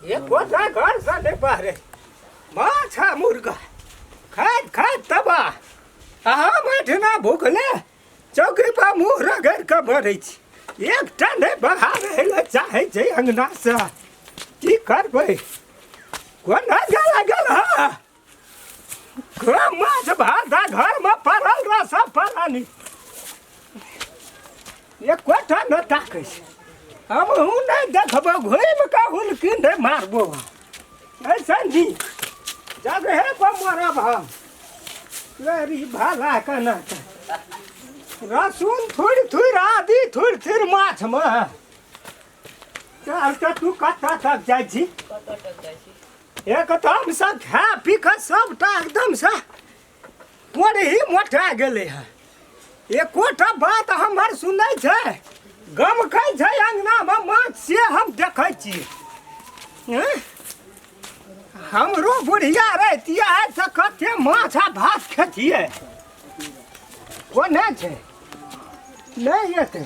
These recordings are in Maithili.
ये कोठा घर सा नहीं पारे माछा मुर्गा खात खात तबा अहा माठना भूखले चौकी पर मुंह रगड़ के भरे छी एक टा नहीं बहावे ले चाहे छै अंगना से की करबै कोना गला गला माछ भाटा घर में पड़ल रह सब पड़ानी ये कोठा न ताकै छै हम हूँ नहीं देखबो घूम के हुलकी नहीं मारबो ऐसा जी जगह पर मरब हम लहरी भाला के ना रसून थोड़ी थोड़ी आदि थोड़ी थोड़ी माछ में चल तो तू कत्ता तक जाइ छी एकदम से खा पी के सबटा एकदम से ही मोटा गेले है एकोटा बात हमर सुनै छै गमकै छै अंगनामे माछ से हम देखै छी हमरो बुढ़िया रहती है तो कते माछ आ भात खेतिए कोने छै नहीं एतै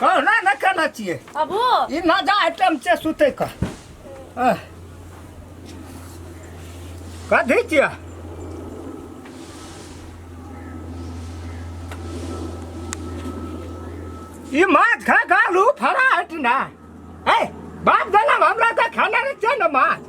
कहना न केना छियै अबू ई न जा आइटम छै सुतै क आह। कथी छियै ई माछ खा खा लू फरा हट ना ए बाप जनम हमरा तऽ खाना नहि छै ने माछ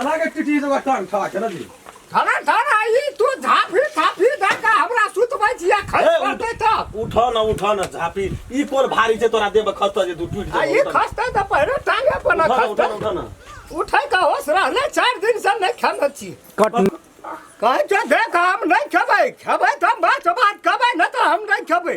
एना के टिटी जगह टांग ठा के ना दी थाना थाना ई तू झाफी थाफी धक्का हमरा सुतबै छिया खै ए, उठ। पड़तै तब उठ न उठ न झापी ई कोन भारी छै तोरा देब खस्ता जे तू टूट आ ई जेबो खस्ता त पहिने टांगे पर न उठ न उठ खस्ता न उठ न उठै का होश रहले चार दिन से नै खेमे छी कट कहै छै देख हम नै खेबै खेबै त हम बात बात कहबै न त हम नै खेबै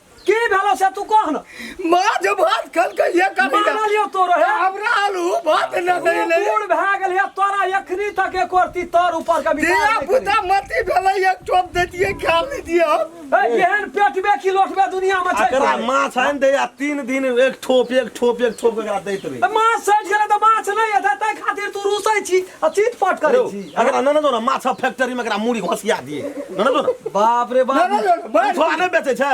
की भेलो से तू कह ना माँ जो भात खल के ये कर माना लियो तो रहे हमरा आलू भात न तू देले बूढ़ भए गेल है तोरा एखनी तक एक रती तोर ऊपर के विचार दिया नहि करी। पुता मती भेलै एक चोप दे दिए खा ली दियो ए, एहन पेटबे की लोटबे दुनिया में छै एकरा माछ आनि दे आ तीन दिन एक ठोप एक ठोप एक ठोप एकरा दैत रही माछ सटि गेलै तऽ माछ नहि एतै ताहि खातिर तू रुसै छी आ चीट पाट करै छी अगर ना ना दो ना माछा फैक्ट्री में एकरा मूड़ी घोसिया दिए ना ना दो ना बाप रे बाप ना, ना, ना, थोड़ा नहीं बेचे छै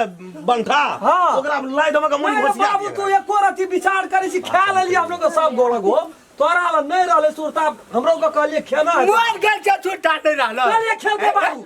बंठा हाँ। ओकरा लाइट हम मूड़ी अरे घोसिया बाबू तू दिए एको रति विचार करै छी खा लेली हम लोग के सब गोल गो तोरा ला नहीं रहले सुरता हमरो के कहलिए खेना है। मोर गेल छै छुट्टा नहि रहल कहलिए खेलते बाबू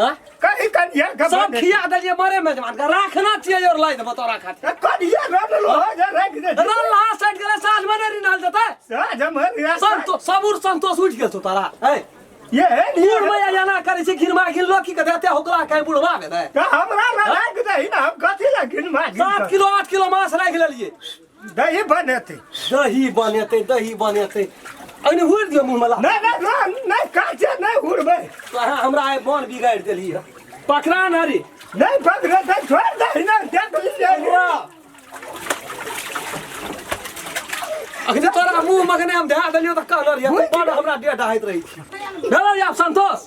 हाँ? कहीं कनिया का सब बने। खिया देलिए मरे मेजबान का राखना चाहिए और लाई देबो तोरा खातिर ए, कनिया रन लो जा रख दे रल्ला सेट गेले साल में नहीं डाल देता साज हमर रिया संतो सबूर संतोष उठ गेल तो तारा ए ये है बूढ़ नियर मैया जाना करे छै घिरमा घिन लो की कहते होकरा कहीं बुढ़वा भेलै का हमरा रख दे ना हम कथी लगिन मार सात किलो आठ किलो मांस राख लेलिए दही बनेतै दही बनेतै दही बनेतै अने हुर दियो मुँह मला नहि नहि नहि नहि काचे नहि हुरबै तोरा हमरा आइ बन बिगाड़ि देली है पकड़ा न रे नहि पकड़े तऽ छोड़ि दही ने देख लीजिए अखने तोरा मुँह मखने हम धए देलियो तऽ कहलर या बड़ हमरा डेढ़ हाइत रहै छी भेलर या संतोष